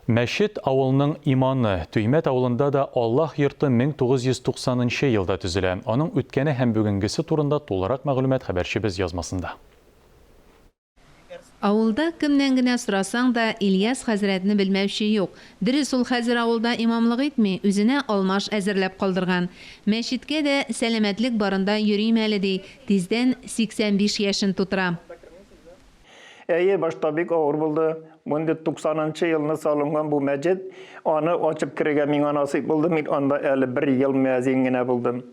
Мәчет, авылның иманы. Төймәт авылында да Аллаһ йорты 1990 нчы елда төзелә. Аның үткәне һәм бүгенгесе турында тулырак мәгълүмат хәбәрчебез язмасында. Авылда кемнән генә сорасаң да, Ильяс хәзрәтне белмәүче юк. Дөрес, ул хәзер авылда имамлык итми, үзенә алмаш әзерләп калдырган. Мәчеткә дә сәламәтлек барында йөрим әле, ди, тиздән 85 яшен тутыра. Әйе, башта бик авыр булды. Мондый 90 нчы елны салынган бу мәчет, аны ачып керергә миңа насыйп булды, мин анда әле бер ел мөәзин генә булдым.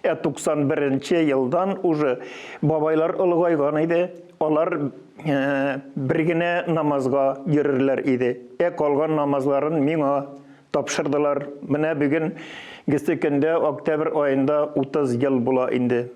Ә 91 нче елдан уже бабайлар олыгайган иде, алар э, бер генә намазга йөрерләр иде. Ә калган намазларын миңа Тапшырдылар. Менә бүген гесе көндә, октябрь аенда 30 ел була инде.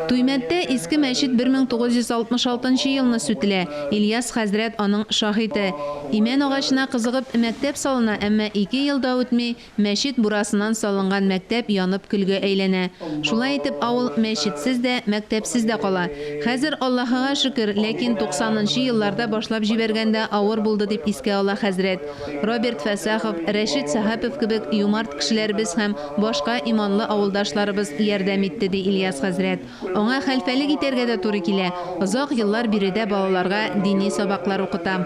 Туймәттә Иске мәчет 1966 нчы елны сүтелә. Ильяс хәзрәт аның шаһиты. Имән агачына кызыгып, мәктәп салына, әмма ике ел да үтми, мәчет бурасыннан салынган мәктәп янып көлгә әйләнә. Шулай итеп авыл мәчетсез дә, мәктәпсез дә кала. Хәзер, Аллаһыга шөкер, ләкин 90 нчы елларда башлап җибәргәндә авыр булды, дип искә ала хәзрәт. Роберт Фәсахов, Рәшит Сәхапов кебек юмарт кешеләребез һәм башка иманлы авылдашларыбыз ярдәм итте, ди Ильяс хәзрәт. Аңа хәлфәлек итәргә дә туры килә. Озак еллар биредә балаларга дини сабаклар укыта.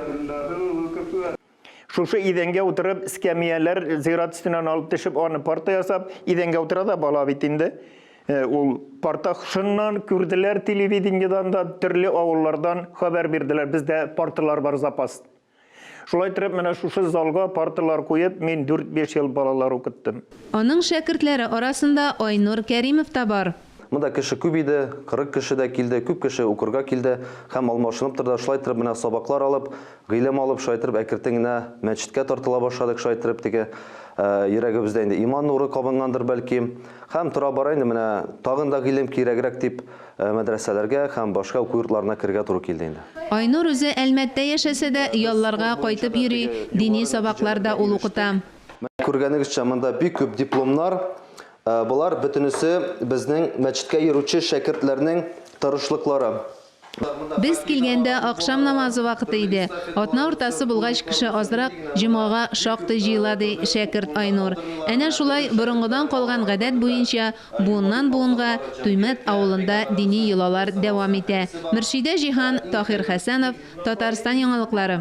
Шушы идәнгә утырып, эскәмияләр зират өстеннән алып төшеп, аны парта ясап, идәнгә утыра да, бала бит инде ул. Парта шыннан күрделәр телевидениедән дә, төрле авыллардан хәбәр бирделәр, бездә парталар бар запас. Шулай иттереп, менә шушы залга парталар куеп, мин дүрт-биш ел балалар укыттым. Аның шәкертләре арасында Айнур Кәримов та бар. Монда кеше күп иде, 40 кеше дә килде, күп кеше укырга килде һәм алмашынып торды. Шулай иттереп, менә сабаклар алып, гыйлем алып, шулай иттереп, әкертен генә мәчеткә тартыла башладык, шулай иттереп, теге йөрәгебездә инде иман нуры кабынгандыр, бәлки. Һәм тора-бара инде менә тагын да гыйлем кирәгрәк дип, Мәдрәсәләргә һәм башка уку йортларына керергә туры килде инде. Айнур үзе Әлмәттә яшәсә дә, ялларга кайтып йөри, дини сабаклар да ул укыта. Күргәнегезчә, монда бик күп дипломнар. Болар бөтенесе безнең мәчеткә йөрүче шәкертләрнең тырышлыклары. Без килгәндә ахшам намазы вакыты иде. Атна уртасы булгач, кеше азрак, җомгага шактый җыела, ди шәкерт Айнур. Әнә шулай, борынгыдан калган гадәт буенча, Буыннан-буынга Туймәт авылында дини йолалар дәвам итә. Мөршидә Җиһан, Таһир Хәсәнов, Татарстан яңалыклары.